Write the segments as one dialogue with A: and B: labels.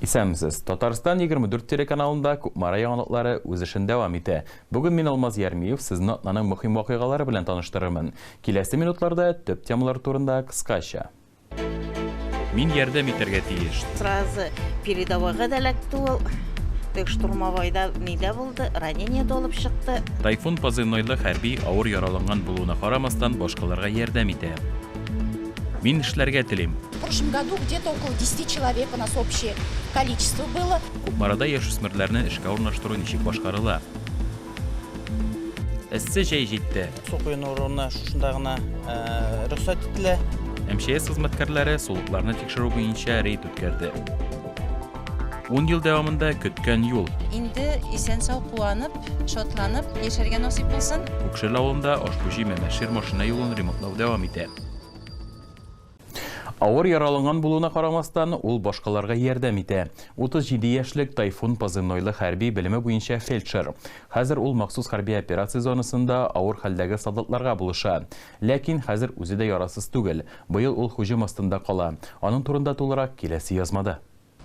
A: Исәнмесез. Татарстан 24 телеканалында Кукмара яңалыклары үз эшен дәвам итә. Бүген мин Алмаз Ярмиев сезне атнаның мөһим вакыйгалары белән таныштырырмын. Киләсе минутларда төп темалар турында кыскача. Мин ярдәм итәргә тиеш. Сразу
B: передовойга да эләкте ул. Тек штурмовойда нидә булды, ранение дә алып чыкты. Тайфун позывнойлы
A: хәрби авыр яраланган булуына карамастан башкаларга ярдәм итә. Мин эшләргә телим. В прошлом году где-то
C: около 10 человек у нас общее количество было. Кукмарада яшүсмерләрне
A: эшкә урнаштыру ничек башкарыла? Эссе җәй җитте. Су коену урыны
D: шушында гына рөхсәт ителә. МЧС
A: хезмәткәрләре сулыкларны тикшерү буенча рейд үткәрде. Ун ел дәвамында көткән юл. Инде исән-сау
E: куанып, шатланып яшәргә насыйп булсын. Күкшел авылында
A: Ашбүҗи Мәмәшир машина юлын ремонтлау дәвам итә. Авыр яраланган булуына карамастан, ул башкаларга ярдәм итә. 37 яшьлек Тайфун позывнойлы хәрби, белеме буенча фельдшер. Хәзер ул махсус хәрби операция зонасында авыр хәлдәге солдатларга булыша. Ләкин хәзер үзе дә ярасыз түгел. Быел ул һөҗүм астында кала. Аның турында тулырак, киләсе язмада.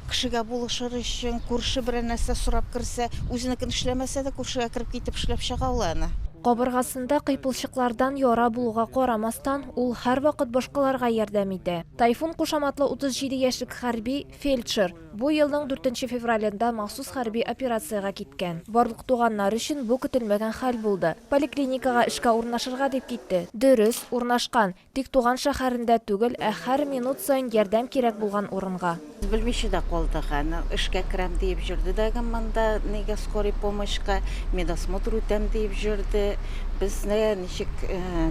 A: Кешегә
B: булышыр өчен, күрше берәр нәрсә сорап керсә, үзенекен эшләмәсә дә, күршегә кереп китеп эшләп чыга ул аны. Кабыргасында
F: кыйпылчыклардан яра булуга карамастан, ул һәрвакыт башкаларга ярдәм итә. Тайфун кушаматлы 37 яшьлек хәрби, фельдшер, бу елның дүртенче февралендә махсус хәрби операциягә киткән. Барлык туганнар өчен бу көтелмәгән хәл булды. Поликлиникага эшкә урнашырга дип китте. Дөрес, урнашкан. Тик туган шәһәрендә түгел, ә һәр минут саен ярдәм кирәк булган урынга. Белмичә дә калдык
B: аны. Эшкә керәм диеп җөрде дәгем монда, нигә скорый помощька, медосмотр үтәм диеп җөрде. Безне ничек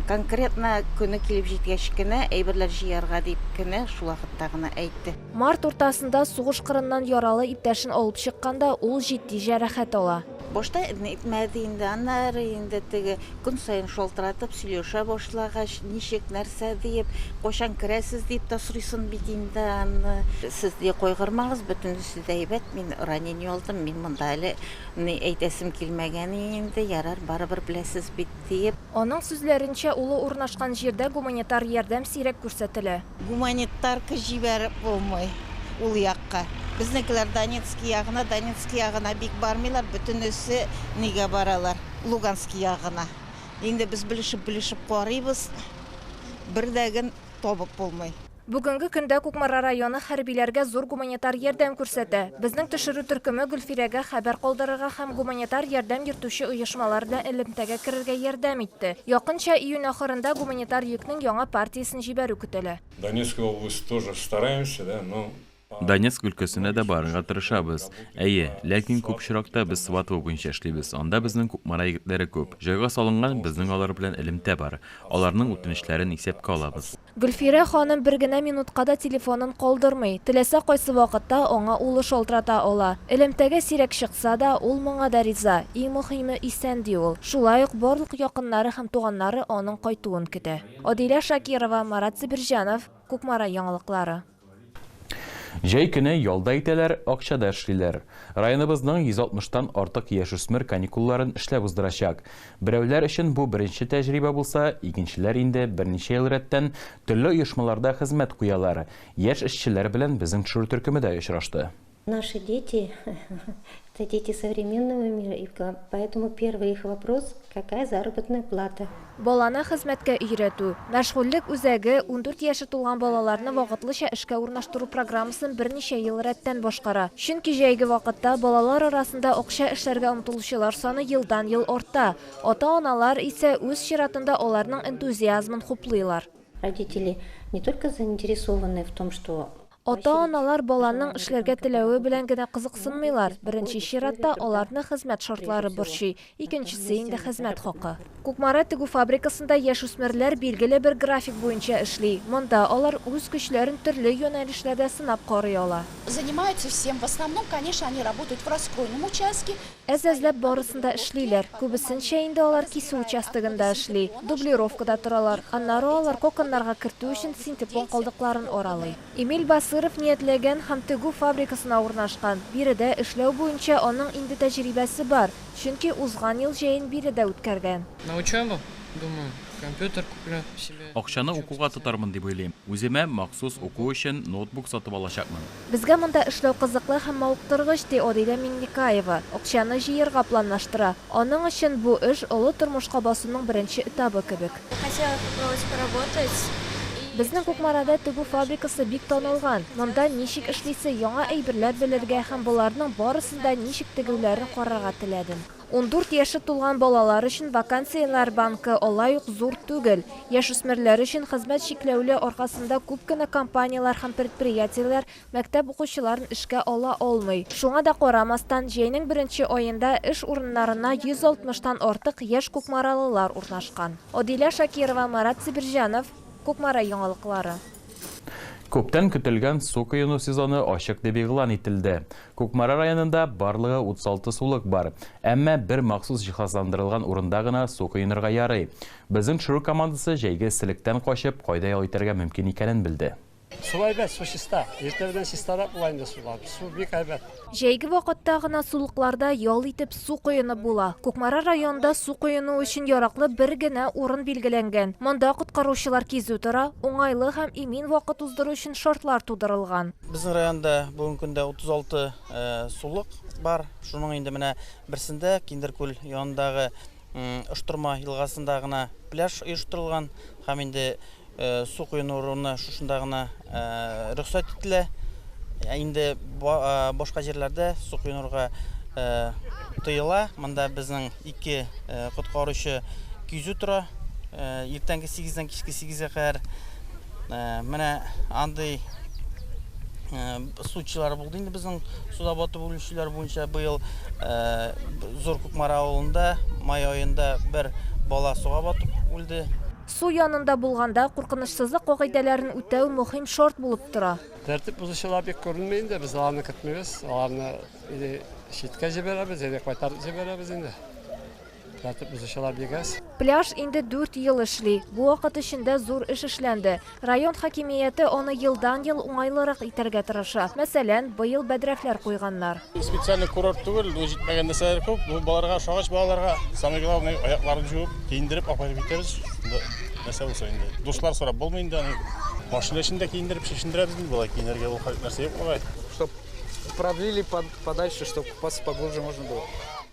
B: конкретно көне килеп җиткәч кенә, әйберләр җыярга дип кенә шул вакытта гына әйтте. Март уртасында
F: сугыш кырыннан яралы иптәшен алып чыкканда, ул җитди җәрәхәт ала. Башта ни әйтмәде
B: инде, аннары инде теге көн саен шалтыратып сөйләшә башлагач, ничек, нәрсә диеп, кайчан керәсез диеп тә сорыйсын бит инде аны. Сез дә кайгырмагыз, бөтенесе дә әйбәт, мин ранение алдым, мин монда әле ни әйтәсем килмәгән инде, ярар, барыбер беләсез бит, диеп. Аның сүзләренчә,
F: улы урнашкан җирдә гуманитар ярдәм сирәк күрсәтелә. Гуманитарка
B: җибәреп булмый ул якка. Безнекеләр Донецкий ягына, Донецкий ягына бик бармыйлар, бөтенесе нигә баралар, Луганский ягына. Инде без белешеп-белешеп карыйбыз, бер дә гөн табып булмый. Бүгенге көндә
F: Кукмара районы хәрбиләргә зур гуманитар ярдәм күрсәтә. Безнең төшерү төркеме Гөлфирәгә хәбәр калдырырга һәм гуманитар ярдәм йөртүче оешмалар белән элемтәгә керергә ярдәм итте. Якынча июнь ахырында гуманитар йөкнең яңа партиясен җибәрү көтелә. Донецкая область
G: тоже стараемся да но Донецк өлкәсенә
A: дә барырга тырышабыз. Әйе, ләкин күп очракта без Сватово буенча эшлибез, анда безнең Кукмара егетләре күп. Җайга салынган, безнең алар белән элемтә бар. Аларның үтенечләрен исәпкә алабыз. Гөлфирә ханым
F: бер генә минутка да телефонын калдырмый, теләсә кайсы вакытта аңа улы шалтырата ала. Элемтәгә сирәк чыкса да, ул моңа да риза, иң мөһиме, исән, ди ул. Шулай ук барлык якыннары һәм туганнары аның кайтуын көтә. Адилә Шакирова, Марат Себерҗанов, Кукмара яңалыклары.
A: Җәй көне ялда итәләр, акчада эшлиләр. Районыбызның 160 тан артык яшүсмер каникулларын эшләп уздырачак. Берәүләр өчен бу беренче тәҗрибә булса, икенчеләр инде берничә ел рәттән төрле оешмаларда хезмәт куялар. Яшь эшчеләр белән безнең төшерү төркеме дә очрашты. Наши дети,
H: это дети современного мира, и поэтому первый их вопрос, какая заработная плата. Баланы хезмәткә
F: өйрәтү, мәшгульлек үзәге ундүрт яше тулган балаларны вакытлыча эшкә урнаштыру программасын берничә ел рәттән башкара. Чөнки җәйге вакытта балалар арасында акча эшләргә омтылучылар саны елдан-ел арта, ата-аналар исә үз чиратында аларның энтузиазмын хуплыйлар. Родители
H: не только заинтересованы в том, что. Ата-аналар
F: баланың эшләргә теләве белән генә кызыксынмыйлар, беренче чиратта, аларны хезмәт шартлары борчый, икенчесе инде хезмәт хакы. Кукмара тегү фабрикасында яшүсмерләр билгеле бер график буенча эшли. Монда алар үз көчләрен төрле юнәлешләрдә сынап карый ала. Занимаются всем,
C: в основном, конечно, они работают в расстройном участке. Әз-әзләп барысын
F: да эшлиләр. Күбесенчә инде алар кисү участогында эшли, дублировкада торалар. Аннары алар коконнарга кертү өчен синтепон калдыкларын аралый. Эмиль Басыров ниятләгән һәм тегү фабрикасына урнашкан. Биредә эшләү буенча аның инде тәҗрибәсе бар, чөнки узган ел җәен биредә үткәргән. На учебу,
I: думаю, компьютер куплю себе. Акчаны укуга
A: тотармын дип уйлыйм. Үземә махсус уку өчен ноутбук сатып алачакмын. Безгә монда эшләү
F: кызыклы һәм мавыктыргыч, ди Орилә Миңлекаева. Акчаны җыерга планлаштыра. Аның өчен бу эш, олы тормышка басуның беренче этабы кебек.
C: Безнең
F: Кукмарада тегү фабрикасы бик танылган. Монда ничек эшлисе, яңа әйберләр белергә һәм боларның барысын да ничек тегүләрен карарга теләдем. Ундүрт яше тулган балалар өчен вакансияләр банкы алай ук зур түгел. Яшүсмерләр өчен хезмәт чикләүле аркасында күп кенә компанияләр һәм предприятиеләр мәктәп укучыларын эшкә ала алмый. Шуңа да карамастан, җәйнең беренче аенда эш урыннарына 160 тан артык яшь кукмаралылар урнашкан. Адилә Шакирова, Марат Сибирҗанов, Кукмара яңалыклары.
A: Күптән көтелгән су коену сезоны ачык дип игълан ителде. Кукмара районында барлыгы 36 сулык бар. Әмма бер махсус җиһазландырылган урында гына су коенырга ярый. Безнең төшерү командасы җәйге эсселектән качып, кайда ял итәргә мөмкин икәнен белде. Су әйбәт, су
J: чиста. Иртә белән чистарак була инде сулар. Су бик әйбәт. Җәйге вакытта
F: гына сулыкларда ял итеп су коенып була. Кукмара районында су коену өчен яраклы бер генә урын билгеләнгән. Монда коткаручылар кизү тора, уңайлы һәм имин вакыт уздыру өчен шартлар тудырылган. Безнең районда
D: бүгенге көндә 36 сулык бар. Шуның инде менә берсендә, Киндеркүл янындагы, Ыштырма елгасында гына пляж оештырылган һәм инде су коену урыны шушында гына рөхсәт ителә. Ә инде башка җирләрдә су коенырга тыела. Монда безнең ике коткаручы кизү тора. Иртәнге 8-дән кичке 8-гә кадәр менә андый Судчылар булды инде безнең суда батып үлүчеләр буенча быел Зур Кукмара авылында май аенда бер бала суга батып үлде. Су янында
F: булганда куркынычсызлык кагыйдәләрен үтәү мөһим шарт булып тора. Тәртип бозучылар
J: бик күренми инде, без аларны көтмибез, аларны или читкә җибәрәбез, или кайтарып җибәрәбез инде. Тәртип бозучылар бик аз. Пляж инде дүрт
F: ел эшли. Бу вакыт эчендә зур эш эшләнде. Район хакимияте аны елдан-ел уңайлырак итәргә тырыша. Мәсәлән, быел бәдрәфләр куйганнар. Специальный курорт
K: түгел, бу җитмәгән нәрсәләр күп. Бу балаларга ошагач, балаларга самое главное аякларын җуып, киендереп апарып китәбез. Шунда нәрсә булса инде. Душлар сорап булмый инде аны. Машина эчендә киендереп чишендерәбез инде болай киенергә ул нәрсә юк бугай. Чтоб
L: продлили подальше, чтоб поглубже можно было.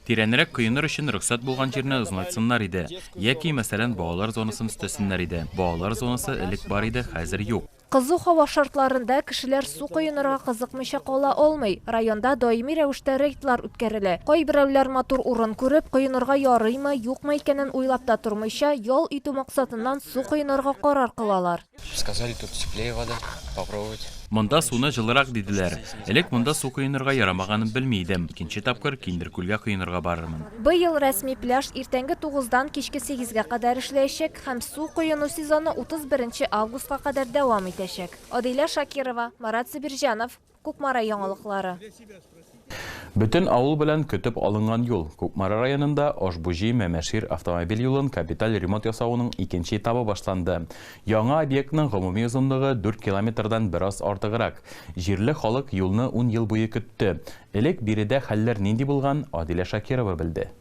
L: Тирәнрәк коеныр
A: өчен рөхсәт булган җирне озынайтсыннар иде. Яки, мәсәлән, балалар зонасын өстәсеннәр иде. Балалар зонасы элек бар иде, хәзер юк. Кызу һава
F: шартларында кешеләр су коенырга кызыкмыйча кала алмый. Районда даими рәвештә рейдлар үткәрелә. Кайберәүләр матур урын күреп, коенырга ярыймы, юкмы икәнен уйлап та тормыйча, ял итү максатыннан су коенырга карар кылалар.
I: Монда суны
A: җылырак диделәр. Элек монда су коенырга ярамаганын белми идем. Икенче тапкыр Киндер күлгә коенырга барырмын. Быел рәсми
F: пляж иртәнге тугыздан кичке сигезгә кадәр эшләячәк һәм су коену сезоны 31 нче августка кадәр дәвам итәчәк. Адилә Шакирова, Марат Зөбирҗанов. Кукмара яңалыклары.
A: Бөтен авыл белән көтеп алынган юл. Кукмара районында Ошбуҗи, Мәмәшир автомобиль юлын капиталь ремонт ясауның икенче этабы башланды. Яңа объектның гомуми озынлыгы дүрт километрдан бераз артыграк. Җирле халык юлны ун ел буе көтте. Элек биредә хәлләр нинди булган, Адилә Шакирова белде.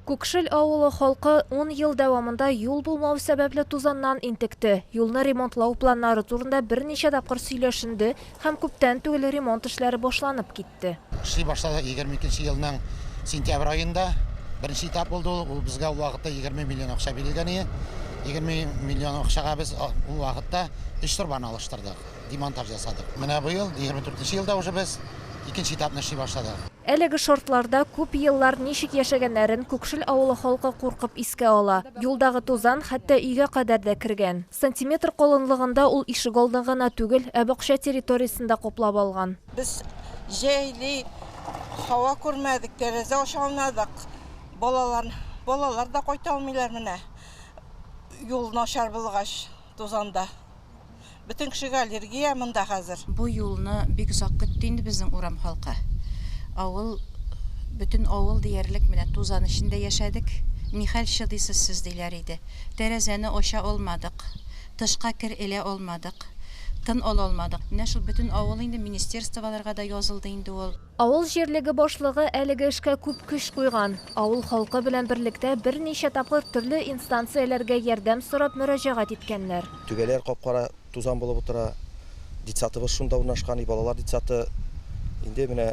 A: Күкшел авылы халкы ун ел дәвамында юл булмау сәбәпле тузаннан интекте. Юлны ремонтлау планнары турында берничә тапкыр сөйләшенде һәм күптән түгел ремонт эшләре башланып китте. Эшли башлады.
M: Егерме икенче елның сентябрь аенда беренче этап булды ул. Ул безгә ул вакытта егерме миллион акча бирелгән иде. Егерме миллион акчага без ул вакытта өч торбаны алыштырдык. Демонтаж ясадык. Менә быел, 24 нче елда уже без икенче этапны эшли башладык. Әлеге шартларда күп еллар ничек яшәгәннәрен Күкшел авылы халкы куркып искә ала. Юлдагы тузан хәтта өйгә кадәр дә кергән. Сантиметр калынлыгында ул ишегалдын гына түгел, ә бакча территориясен дә каплап алган. Без
N: җәйли һава күрмәдек, тәрәзә ача алмадык. Балалар, балалар да кайта алмыйлар менә, юл начар булгач, тузанда. Бөтен кешегә аллергия монда хәзер. Бу юлны бик
E: озак көтте инде безнең урам халкы. Авыл, бөтен авыл диярлек менә тузан эчендә яшәдек. Нихәл чыдыйсыз сез, диләр иде. Тәрәзәне ача алмадык, тышка кер элә алмадык, тын ала алмадык. Менә шул бөтен авыл инде министерстволарга да язылды инде ул. Авыл җирлеге
F: башлыгы әлеге эшкә күп көч куйган. Авыл халкы белән берлектә берничә тапкыр төрле инстанцияләргә ярдәм сорап мөрәҗәгать иткәннәр. Түбәләр кап-кара
O: тузан булып утыра. Детсадыбыз шунда урнашкан, и балалар детсады. Инде менә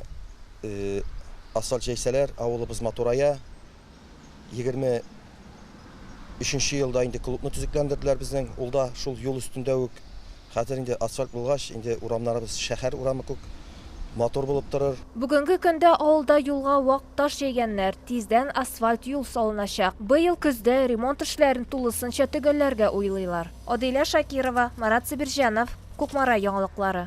O: асфальт җәйсәләр, авылыбыз матурая. Егерме өченче елда инде клубны төзекләндерделәр безнең. Ул да шул юл өстендә үк. Хәзер инде асфальт булгач, инде урамнарыбыз шәһәр урамы күк, матур булып торыр. Бүгенге көндә
F: авылда юлга вак таш җәйгәннәр, тиздән асфальт юл салыначак. Быел көздә ремонт эшләрен тулысынча төгәлләргә уйлыйлар. Адилә Шакирова, Марат Сабирҗанов, Кукмара яңалыклары.